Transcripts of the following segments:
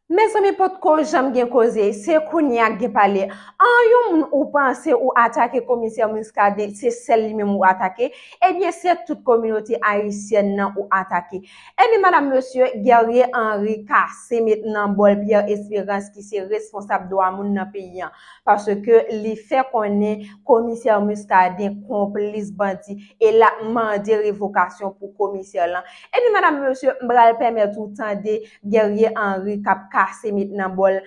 Mezanmi potko janm gen koze, se kounya k gen pale. An yon moun ou panse ou atake komisè Muscadin se sèl li menm ou atake, ebyen se tout kominote ayisyèn nan ou atake. Ebyen madam mesye Guerrier Henri kase met nan bòl Pierre Esperance ki se responsab dwa moun nan peyi an. Paske li fè konnen komisè Muscadin konplis bandi e lap mande revokasyon pou komisè lan. Epi madam mesye m pral pèmèt ou tande Guerrier Henri k ap kase met nan bòl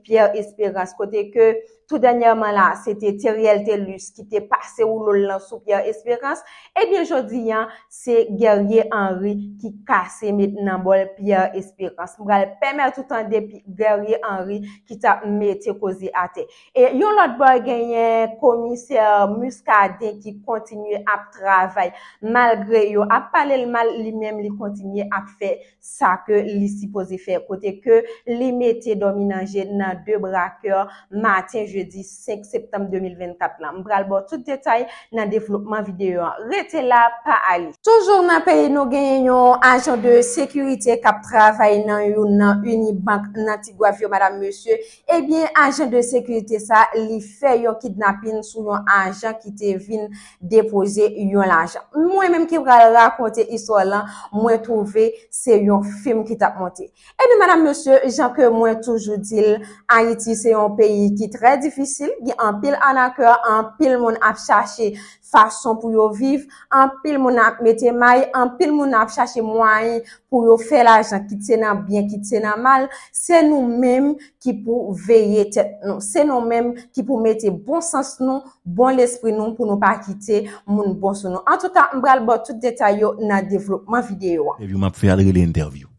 Pierre Espérance kote ke tou dènyèman la se te Theriel Thelus ki te pase woulo l lan sou Pierre Espérance ebyen jodi a se Guerrier Henri ki kase met nan bòl Pierre Espérance m pral pèmèt ou tande Guerrier Henri ki t ap mete koze atè. Yon lòt bò genyen komisè Muscadin ki kontinye ap travay malgre yo ap pale l mal li menm li kontinye ap fè sa ke li sipoze fè kote ke li mete Dominanje nan de brakè maten jedi 5 septanm 2024 lan. M pral ba w tout detay nan devlopman videyo an. Rete la, pa ale! Toujou nan peyi nou genyen yon ajan de sekirite k ap travay nan youn nan Unibank nan Tigwav yo madam mesye Ebyen ajan de sekirite sa li fè yon kidnapin sou yon ajan ki te vin depoze yon lajan. Mwen menm ki pral rakonte istwa lan, mwen twouve se yon fim ki tap monte. Ebyen madam mesye, jan ke mwen toujou di l, Ayiti se yon peyi ki trè difisil, gen anpil anakè, anpil moun ap chache. fason pou yo viv, anpil moun ap mete may, anpil moun ap chache mwayen pou yo fè lajan kit se nan byen kit se nan mal, se nou menm ki pou veye tèt nou, se nou menm ki pou mete bon sans nou, bon lespri nou pou nou pa kite moun bon sou nou. Antouka m pral ba w tout detay yo nan devlopman videyo an. Entèvyou m ap fè a l rele entèvyou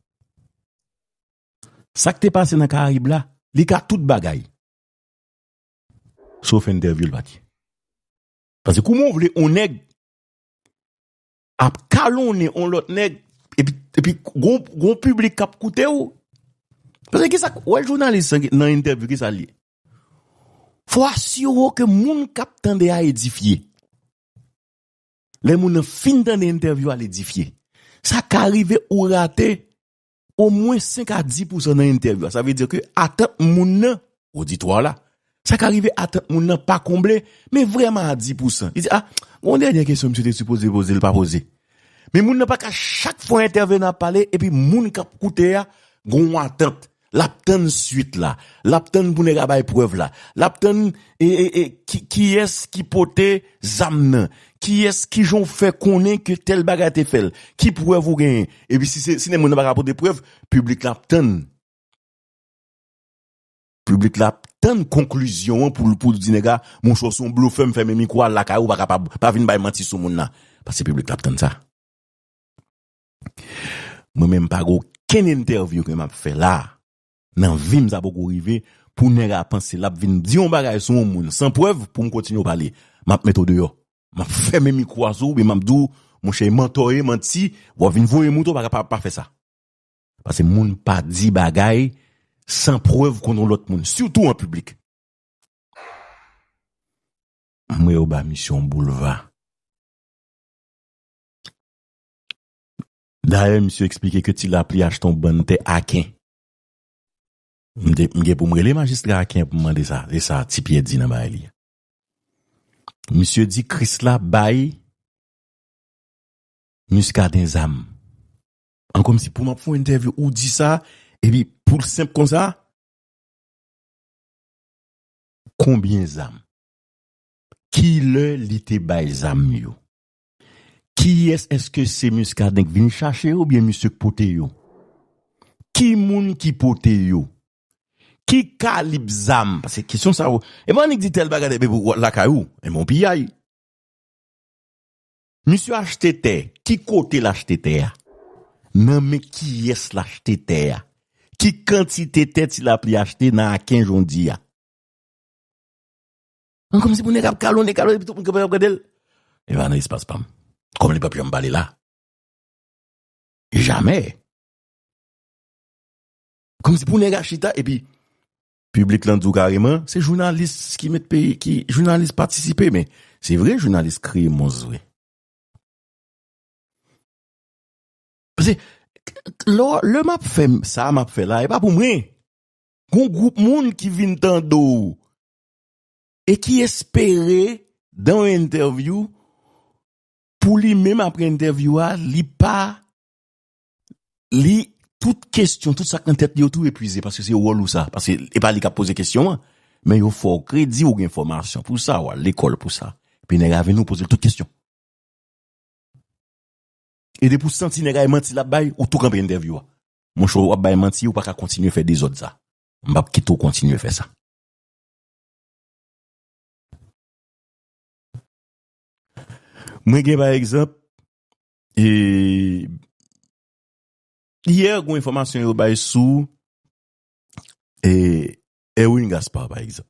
Sa k te pase nan karayib la, li ka tout bagay sof entèvyou l pa t ye. Paske kouman ou vle on nèg ap kalonnen on lòt nèg epi gon piblik kap koute ou. Paske ki sa, wè jounalis nan entèvyou ki sa li. Fò asire ou ke moun kap tande a edifye. Lè moun nan fin tande entèvyou a l edifye. Sa ka rive ou rate omwen 5 a 10 pousan nan entèvyou a. Sa vle dire ke atant moun nan, oditwa la, sa ka rive atant moun nan pa konble, men vreman a 10 pousan. Li di, a, yon dènyè kesyon misye te sipoze poze, li pa poze. Men moun nan pa ka chak fwa entèvenan ap pale, epi moun k ap koute a, gen yon atant. L ap tann suit la. L ap tann pou nèg la bay prèv la. L ap tann, e, e, e, kiyès ki pote zam nan? Kiyès, kijan ou fè konnen ke tèl bagay te fèl? Ki prèv ou genyen? Epi si se, si nèg moun nan pa ka pote prèv, piblik la ap tann. Piblik la ap tann konklizyon an pou l, pou l di nèg la, monchè ou se yon blofè, m fèmen mikwo al lakay ou, ou pa kapab, pa vin bay manti sou moun nan. Paske piblik la ap tann sa. Mwen menm m pa gen okenn entèvyou ke m ap fè la a. Nan vim sa poko rive pou nèg a panse lap vin di yon bagay sou yon moun san prèv pou m kontinye pale map mete w deyò map fèmen mikro a sou ou oubyen map di w monchè e mantò ou ye manti wap vin voye moute w pa kapab pa fè sa paske moun pa di bagay san prèv kont yon lòt moun sitou an piblik. M wè yo ba misye yon boulva. Dayè misye eksplike ke Ti Lapli achte yon bann tè Aken. M gen pou m rele majistra Aken pou m mande sa, se sa Ti Pyè di nan bagay li a. Misye di Krisla bay Miskaden zam. An kòmsi pou m ap fè yon entèvyou ou di sa, epi pou l senp konsa? Konbyen zam? Kilè li te bay zam yo? Kiyès eske se Muscadin k vin chache yo oubyen misye k pote yo? Ki moun ki pote yo? Ki kalib zam? Paske kesyon sa yo, epi annik di tèl bagay epi w lakay ou, epi w piyay. Misye achte tè, ki kote l achte tè a? Nan men kiyès l achte tè a? Ki kantite tè Tilapli achte nan Aken jodi a? Mwen kòmsi pou nèg ap kalonnen, kalonnen epi tout moun kanpe ap gade l. Li pa nan espas pa m. Kòm li pap janm pale la. Jamè. Kòmsi pou nèg a chita epi piblik lan di w kareman, se jounalis ki met peyi, ki jounalis patisipe men. Se vre jounalis kreye mons vre. Pase, lò, lè m ap fè sa m ap fè la, e pa pou mwen. Gon gwoup moun ki vin tande w. e ki espere dan yon entèvyou pou li menm apre entèvyou a li pa li tout kestyon tout sak nan tèt li yo tou epwize paske se wòl ou sa paske e pa li kap poze kestyon an men yo fè w kredi ou gen fòmasyon pou sa ou al lekòl pou sa epi nèg la vini ou poze l tout kestyon e depi ou santi nèg la e manti lap bay ou tou kanpe entèvyou a monchè wap bay manti ou paka kontinye fè dezòd sa m pap kite w kontinye fè sa. Mwen gen pa egzanp, e, yè gwen enfòmasyon yo bay sou, e, Erwin Gaspard pa egzanp.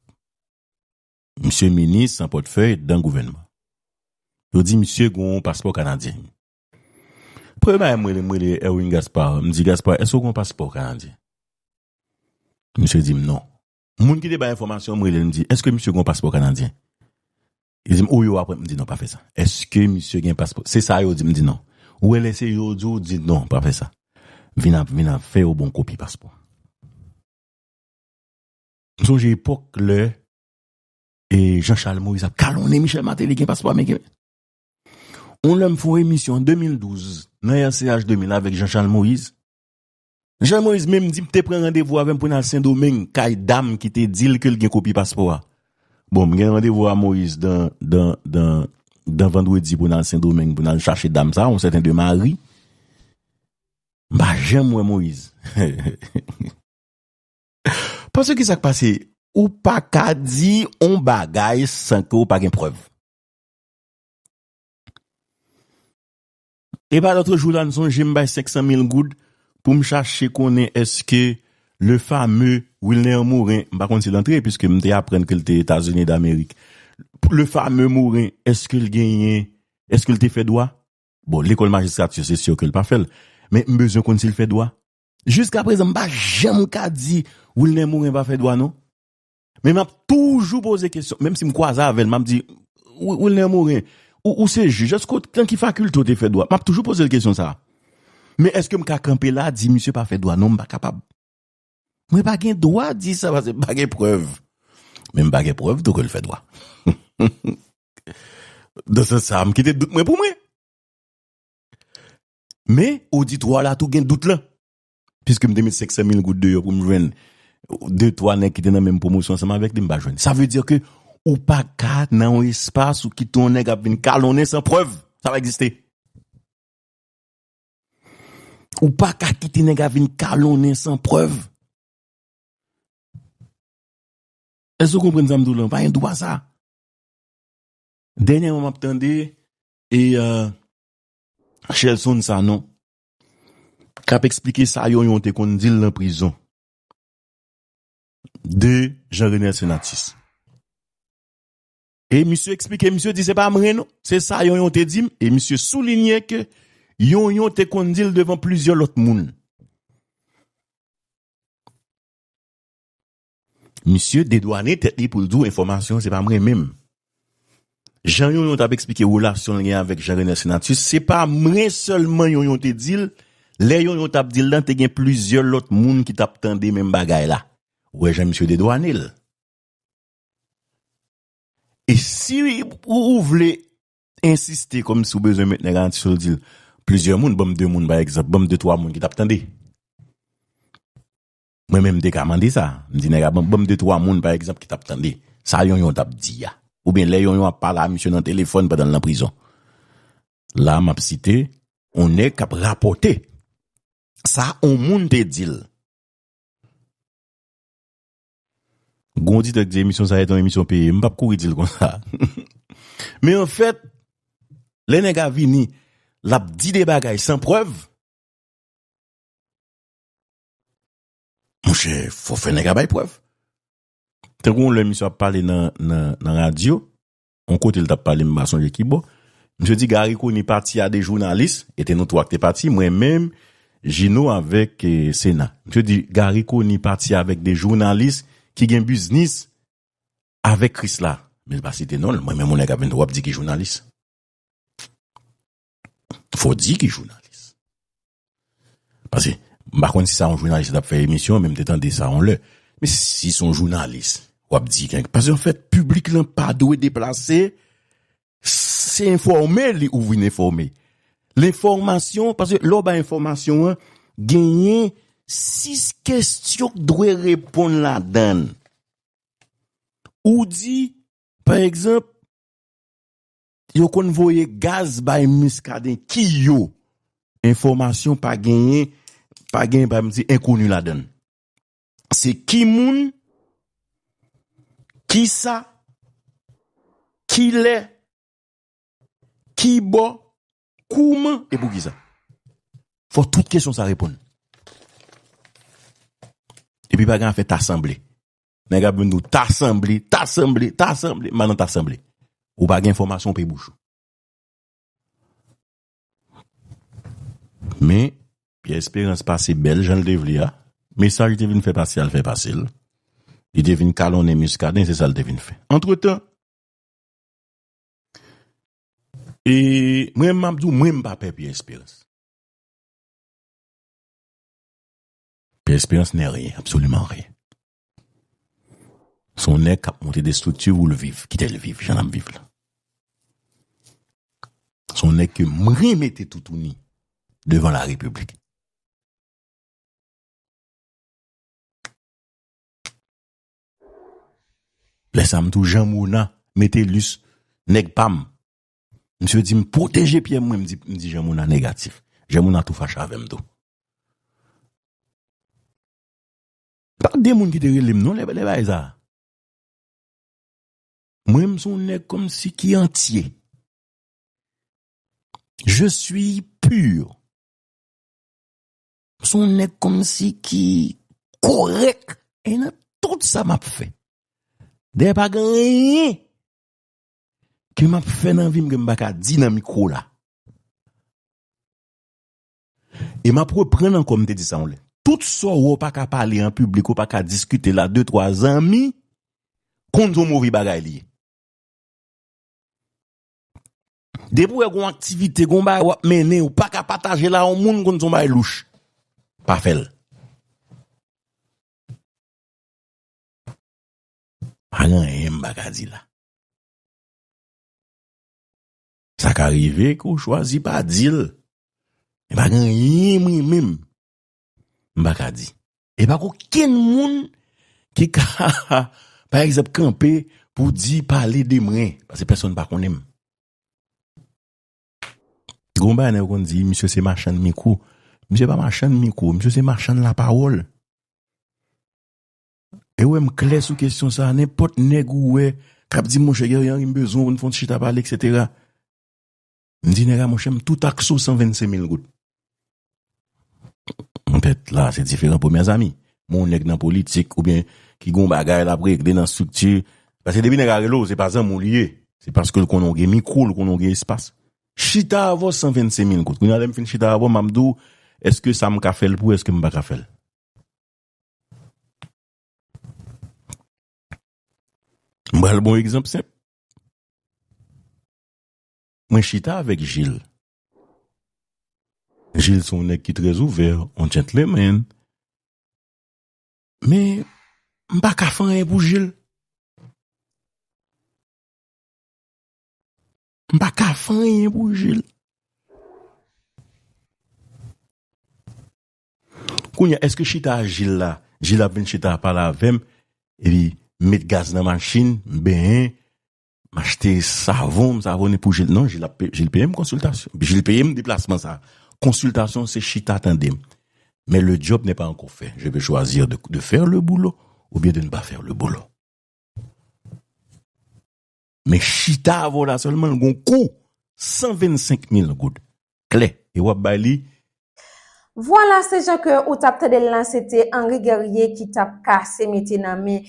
Misye minis an pòtfèy dan gouvènman. Yo di misye gwen paspò kanadyen. Premye bagay mwen li mwen li Erwin Gaspard, mwen di Gaspard, eske gwen paspò kanadyen? Misye di m non. Moun ki te bay enfòmasyon an, m rele l, m di, èske misye gen yon paspò kanadyen? Li di m, o yo ap wè. M di, non, pa fè sa. Èske misye gen paspò? Se sa yo di m. M di, non. Ou wè lè se yo di w, di, non, pa fè sa. Vin av, vin av, fè yo ba w kopi paspò a. M sonje epòk lè e Jean Charles Moïse ap kalonnen Michel Martelly gen paspò ameriken. Yon lè m fè yon emisyon an 2012 nan RCH 2000 avèk Jean Charles Moïse. Jean Moïse menm di m te pran randevou avè m pou n al Sendomeng kay dam ki te di l ke l gen kopi paspò a. Bon, m gen randevou a Moïse dan, dan, dan, dan vandredi pou n al Sendomeng pou n al chache dam sa a, yon sèten de Mari. M pa janm wè Moïse. Pase ki sa k pase, ou pa ka di yon bagay san ke ou pa gen prèv. Epa lotre jou la n sonje m bay 500 mil goud pou m chache konnen eske le fame Wilner Morin, m pa konn si l antre piske m te aprann ke l te Etazini Damerik, le fame Morin eske l genyen, eske l te fè dwa? Bon lekòl majistrati se sur ke l pa fè l, men m bezwen konn si l fè dwa. Jiskaprezan m pa janm ka di Wilner Morin pa fè dwa non. Men map toujou poze kesyon, menm si m kwaze avèl, map di, Wilner Morin, ou se jij, eske ou, nan ki fakilte ou te fè dwa? Map toujou poze l kesyon sa. Men eske m ka kanpe la di misye pa fè dwa? Non m pa kapab. Mwen pa gen dwa di sa paske m pa gen prèv. Men m pa gen prèv tou ke l fè dwa. Nan sans sa, m kite dout mwen pou mwen. Men, oditwa la tou gen dout lan. Piske m te met 500 mil goud deyò pou m jwenn de twa nèg ki te nan menm pwomosyon ansanm avèk li, m pa jwenn. Sa vle di ke ou pa ka nan yon espas ou kite yon nèg ap vin kalonnen san prèv. Sa pa egziste. Ou pa ka kite nèg ap vin kalonnen san prèv. Èske ou konprann sa m di w la? Ou pa gen dwa sa. Dènyèman m ap tande e Shelson Sanon K ap eksplike sa yon yon te konn di l nan prizon de Jean Renel Senatus. E misye eksplike, misye di se pa mwen non, se sa yon yon te di m. E misye soulinye ke yon yon te konn di l devan plizyè lòt moun. Misye dedwane tèt li pou l di w enfòmasyon an se pa mwen menm. Jan Yonyon t ap eksplike relasyon l gen avèk Jean Renel Senatus, se pa mwen sèlman Yonyon te di l, lè Yonyon t ap di l lan te gen plizyè lòt moun ki t ap tande menm bagay la. Ou wè jan misye dedwane l. E si ou vle ensiste kòm si ou bezwen met nèg an sou l di l, plizyè moun, ban m de moun pa egzanp, ban m de twa moun ki t ap tande. Mwen menm m te ka mande sa, m di nèg a banm de twa moun pa egzanp ki t ap tande sa Yonyon t ap di a oubyen lè Yonyon ap pale a misye nan telefòn pandan l nan prizon. La m ap site yon nèg k ap rapòte sa yon moun te di l. Gon oditè k di emisyon sa a se yon emisyon peye, m p ap kouri di l konsa. Men anfèt, lè nèg a vini l ap di de bagay san prèv. Monchè, fò fè nèg a bay prèv. Te gen yon lè misye ap pale nan radyo, yon kote li t ap pale m pa sonje ki bò, misye di Garry Conille pati a 2 jounalis, e te nou 3 ki te pati, mwen menm, Gino avèk Sena. Misye di Garry Conille pati avèk 2 jounalis ki gen biznis avèk Krisla. Men l pa site non l, mwen menm yon nèg ap vin di w ap di ki jounalis. Fò w di ki jounalis. Pase, m pa konn si sa yon jounalis t ap fè emisyon, men m te tande sa yon lè. Men si s on jounalis, w ap di kèk. Pase anfèt, piblik lan pa dwe deplase, se enfòme li ou vin enfòme. Lenfòmasyon, pase lè w bay enfòmasyon an, genyen sis kestyon k dwe reponn ladann. Ou di, pa egzanp, Yo konn voye gaz bay Muscadin ki yo? Enfòmasyon pa genyen, pa genyen pa m di enkoni ladan l. Se ki moun, ki sa, ki lè, ki bò, kouman e pou ki sa. Fò tout kesyon sa reponn. Epi pa gen afè ta sanble. Nèg ap vin di w ta sanble, ta sanble, ta sanble, m pa nan ta sanble. Ou pa gen enfòmasyon ou peye bouch ou. Men, Pierre Espérance pase bèl jan l te vle a, mesaj li te vin fè pase a l fè pase l. Li te vin kalonnen Muscadin, se sa l te vin fè. Antretan, e mwen menm m ap di w mwen m pa pè Pierre Espérance. Pè esperans nè ryen absoliman ryen son nèg kap monte de strikti voul viv kitel viv jan lap viv la son nèg ke mwen mete toutouni devan la repiblik lèsa mtou jan mona metelus nèg pam Misye di m pwoteje pyem mwen m di jan moun an negatif. Jan moun an tou fache avem tou. Pa gen moun ki te rele m non le bagay sa. Mwen m son neg kom si ki antye. Je suis pur. M son neg kom si ki korek e nan tout sa map fe. Deye pa gen anyen. Ke map fè nan vim ke m paka di nan mikwo la. E map reprann ankò m te di sa yon lè. Tout sa w wè w paka pale an piblik, w paka diskite la de twa zanmi, konn son move bagay li ye. Depi w wè gon aktivite, gon bagay wap mennen, w paka pataje la yon moun konn son bagay louch. Pa fè l. Pa gen anyen m paka di la. Sa ka rive ke w chwazi pa di l. Men pa gen anyen mwen menm m pa ka di. E pa gen okenn moun ki ka pa egzanp kanpe pou di pale de mwen paske pèsonn pa konnen m. Gen yon bagay nèg yo konn di misye se machann mikwo. Misye pa machann mikwo, misye se machann lapawòl. E wè m klè sou kesyon sa a, nenpòt nèg ou wè k ap di m monchè Guerrier Henry m bezwen w n fè yon ti chita pale eksetera, m di nèg la monchè m tou takse w 125 mil goud. Petèt la a se diferan pou mèzami, men yon nèg nan politik oubyen ki gen yon bagay l ap regle nan estrikti, paske depi nèg la rele w se pa zanmi w li ye, se paske l konnen w gen mikwo, l konnen w gen espas. Chita avè w 125 mil goud, kounye a lè m fin chita avè w m ap di w èske sa m ka fè l pou ou èske m pa ka fè l. M pral ba w egzanp senp. Mwen chita avèk Jil. Jil se yon nèg ki trè ouvè, yon djentlemen. Men, m pa ka fè anyen pou Jil. M pa ka fè anyen pou Jil. Kounya eske chita a jil la, jil ap vin chita pale avèm epi m met gaz nan machin, m benyen, m achte savon, m savone pou jil, non jil ap peye, jil peyem konsiltasyon, jil peyem deplasman sa, konsiltasyon se chita tandem, men le djòb nè pa ankò fè, je pe chwazir de fèr le boulo oubyen de n pa fèr le boulo. Men chita avèw la sèlman gon kou 125 mil goud klè e wap bay li. Vwala se jan ke ou tap tandel lan se te Henri Guerrier ki tap kase mete nan men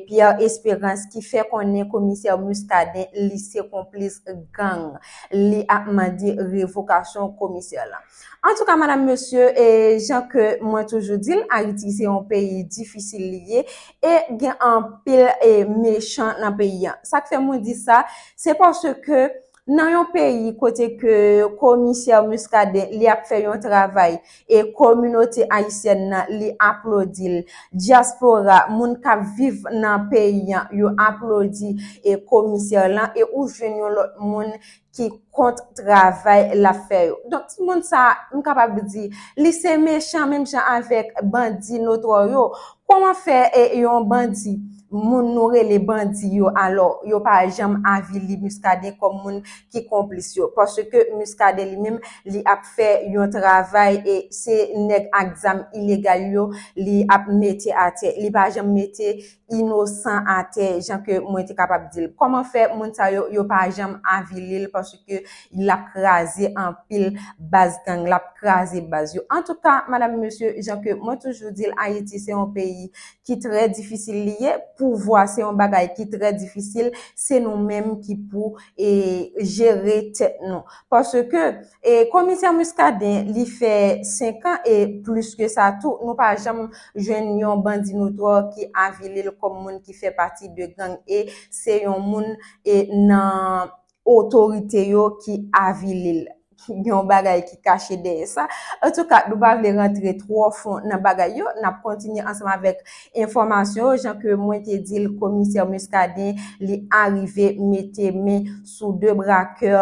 Pierre Esperance ki fè konnen komisè Muscadin li se konplis gang li ap mande revokasyon komisè lan. Antouka madam mesye e jan ke mwen toujou dil ayiti se yon peyi difisil li ye e gen anpil e mechan nan peyi an sak fè mwen di sa se paske nan yon peyi kote ke komisè miskaden li ap fè yon travay e kominote ayisyèn nan li aplodil dyaspora moun kap viv nan peyi an yo aplodi e komisè lan e ou jwenn yon lòt moun ki kont travay l ap fè yo. Donk, timoun sa a, m kapab di, li se mechan menm jan avèk bandi notwò yo. Kouman fè e yon bandi, moun nou rele bandi yo alò, yo pa janm avili Muscadin kòm moun ki konplis yo? Paske Muscadin li menm, li ap fè yon travay e se nèg ak zam ilegal yo li ap mete atè. Li pa janm mete inosan atè jan ke mwen te kapab dil kòman fè moun sa yo yo pa janm avilil paske lap kraze anpil baz gang lap kraze baz yo antouka madam mesye jan ke mwen toujou dil ayiti se yon peyi ki trè difisil li ye pouvwa se yon bagay ki trè difisil se nou menm ki pou e jere tèt nou paske E komisè Muscadin li fè 5 an e plis ke sa tou nou pa janm jwenn yon bandi notwò ki avili l kòm moun ki fè pati de gang e se yon moun e nan otorite yo ki avili l. Gen yon bagay ki kache dèyè sa. Antouka nou pa vle rantre twò fon nan bagay yo, n ap kontinye ansanm avèk enfòmasyon yo jan ke mwen te di l komisè Muscadin li arive mete men sou 2 brakè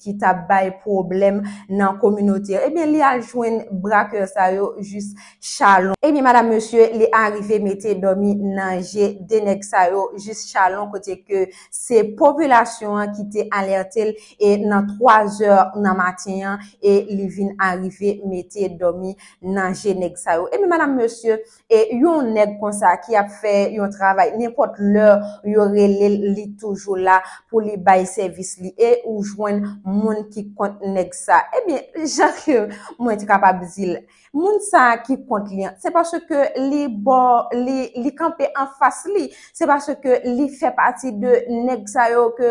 ki t ap bay pwoblèm nan kominote an. Ebyen li al jwenn brakè sa yo jis Chalon. Ebyen madam mesye li arive mete dòmi nan je 2 nèg sa yo jis Chalon kote ke se popilasyon an ki te alète l e nan 3 zè nan maten an e li vin arive mete dòmi nan je nèg sa yo. Ebyen madam mesye E yon nèg konsa ki ap fè yon travay nenpòt lè yo rele l li toujou la pou li bay sèvis li e ou jwenn moun ki kont nèg sa ebyen jan ke mwen t kapab di l moun sa ki kont li an se paske li bò li kanpe anfas li Se paske li fè pati de nèg sa yo ke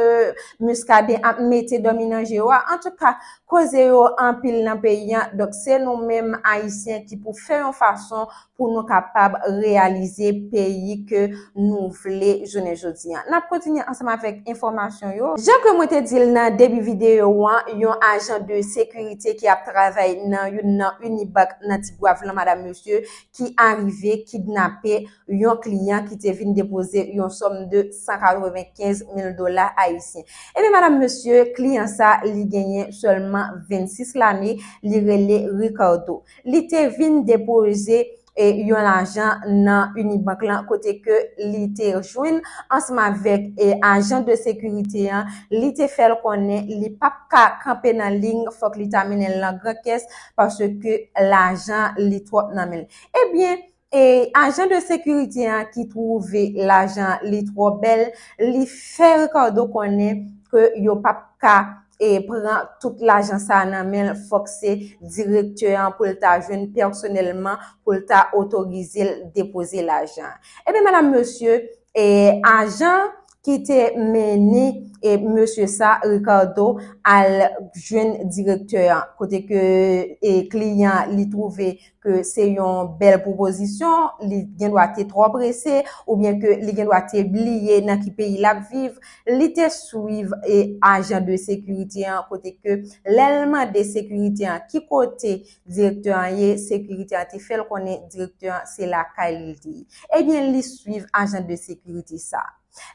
Muscadin ap mete dòmi nan je yo a. Antouka, koze yo anpil nan peyi a, donk se nou menm Ayisyen ki pou fè yon fason pou nou kapab reyalize peyi ke nou vle jounen jodi a. N ap kontinye ansanm avèk enfòmasyon yo. Jan ke mwen te di l nan debi videyo an, yon ajan de sekirite ki ap travay nan youn nan Unibank nan Tigwav lan, madam mesye, ki arive kidnape. yon kliyan ki te vin depoze yon sòm de 195 mil dola ayisyen. Ebyen madam mesye, kliyan sa li genyen sèlman 26 lane, li rele Ricardo. Li te vin depoze yon lajan nan Unibank lan kote ke li te jwenn ansanm avèk ajan de sekirite an, li te fè l konnen li pap ka kanpe nan liy fòk li ta mennen l nan gran kès paske lajan li twòp nan men l. Ebyen, E ajan de sekirite an ki twouve lajan li twò bèl, li fè Ricardo konnen ke yo pap ka e pran tout lajan sa a nan men l, fòk se direktè an pou l ta jwenn pèsonèlman pou l ta otorize l depoze lajan an. Ebyen, madam, mesye, E ajan ki te mennen e mesye sa, Ricardo, al jwenn direktè an. Kote ke e kliyan li twouve ke se yon bèl pwopozisyon, li gen dwa te twò prese, oubyen ke li gen dwa te bliye nan ki peyi l ap viv, li te swiv e ajan de sekirite an kote ke lè l mande sekirite an ki kote Direktè an ye, sekirite an te fè l konnen direktè an se lakay li l te ye. Ebyen li swiv ajan de sekirite sa.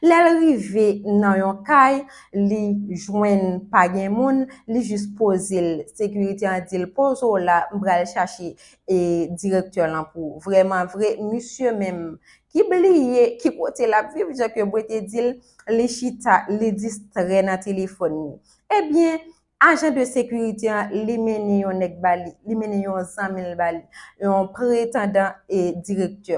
Lè l rive nan yon kay, li jwenn pa gen moun, li jis poze l. Sekirite an di l poze w la, m pral chache e direktè lan pou ou. Vreman vre, misye menm ki bliye ki kote l ap viv, jan ke Bwe te di l, li chita, li distrè nan telefòn li. Ebyen, Ajan de sekirite an li mennen yon nèg ba li, li mennen yon zanmi l ba li, yon pretandan e direktè.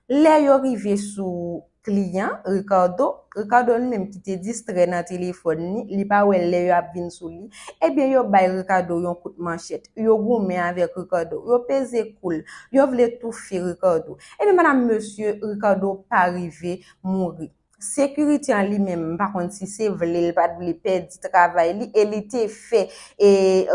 Lè yo rive sou kliyan, Ricardo, Ricardo li menm ki te distrè nan telefòn li, li pa wè lè yo ap vin sou li, ebyen yo bay Ricardo yon kout manchèt, yo goumen avèk Ricardo, yo peze kou l, yo vle toufe Ricardo. Ebyen madam mesye, Ricardo pa rive mouri. Security an li menm m pa konn si se vle l pat vle pèdi travay li e li te fè e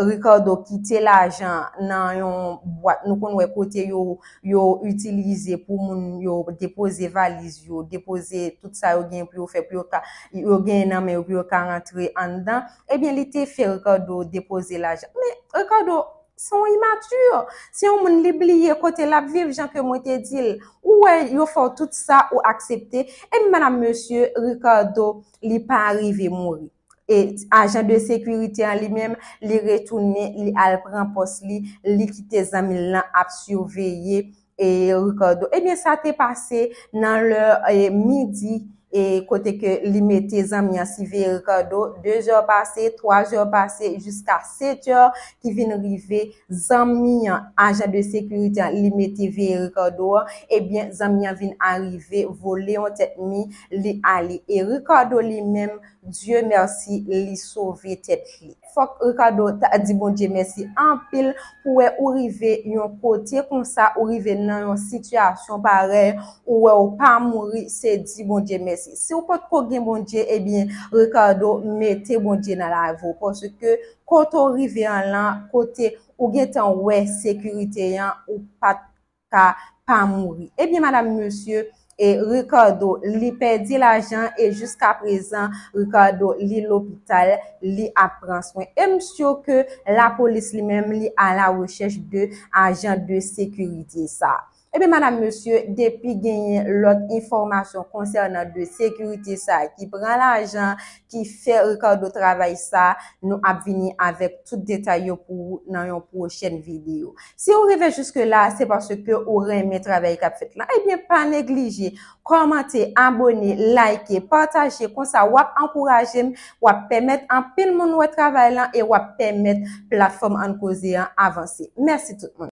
Ricardo kite lajan nan yon bwat nou konn wè kote yo yo itilize pou moun yo depoze valiz yo depoze tout sa yo gen pou yo fè pou yo ka yo gen nan men yo pou yo ka rantre anndan ebyen li te fè Ricardo depoze lajan men Ricardo Se yon imature. Se yon moun li bliye kote lap viv jan ke mwen te dil. Ou wè yo fè w tout sa ou aksepte. Ebyen madam mesye Ricardo li pa rive mouri. E ajan de sekirite an li menm li retounen li al pran pòs li, li kite zanmi l lan ap siveye E Ricardo, Ebyen sa te pase nan lè midi e kote ke li mete zanmi an siveye Ricardo, de zè pase, twa zè pase, jiska setè ki vin rive zanmi an, ajan de sekirite an li mete veye Ricardo an, ebyen zanmi an vin arive vole yon tèt mi li ale. E Ricardo li menm, Dieu merci li sove tèt li. Fok Ricardo ta di Bondye mèsi anpil pou wè ou rive yon kote konsa ou rive nan yon sitiyasyon parèy ou wè ou pa mouri se di Bondye mèsi siw potko gen Bondye ebyen Ricardo mete Bondye nan lavi w paske kote w rive an lan kote ou gentan wè sekirite an ou pat ka pa mouri ebyen madam mesye e Ricardo li pèdi lajan e jiska prezan Ricardo li lopital li ap pran swen em syo ke la polis li menm li a la rechèch de ajan de sekirite sa ebyen madam mesye depi genyen lòt enfòmasyon konsènan de sekirite sa ki pran lajan ki fè Ricardo travay sa nou ap vini avèk tout detay yo pou ou nan yon pwochèn video si ou rive jiske la se paske ou renmen travay kap fèt la ebyen pa neglije kòmante abone like pataje konsa wap ankourajem wap pèmèt anpil moun wè travay lan e wap pèmèt platfòm ann koze an avanse mèsi tout moun.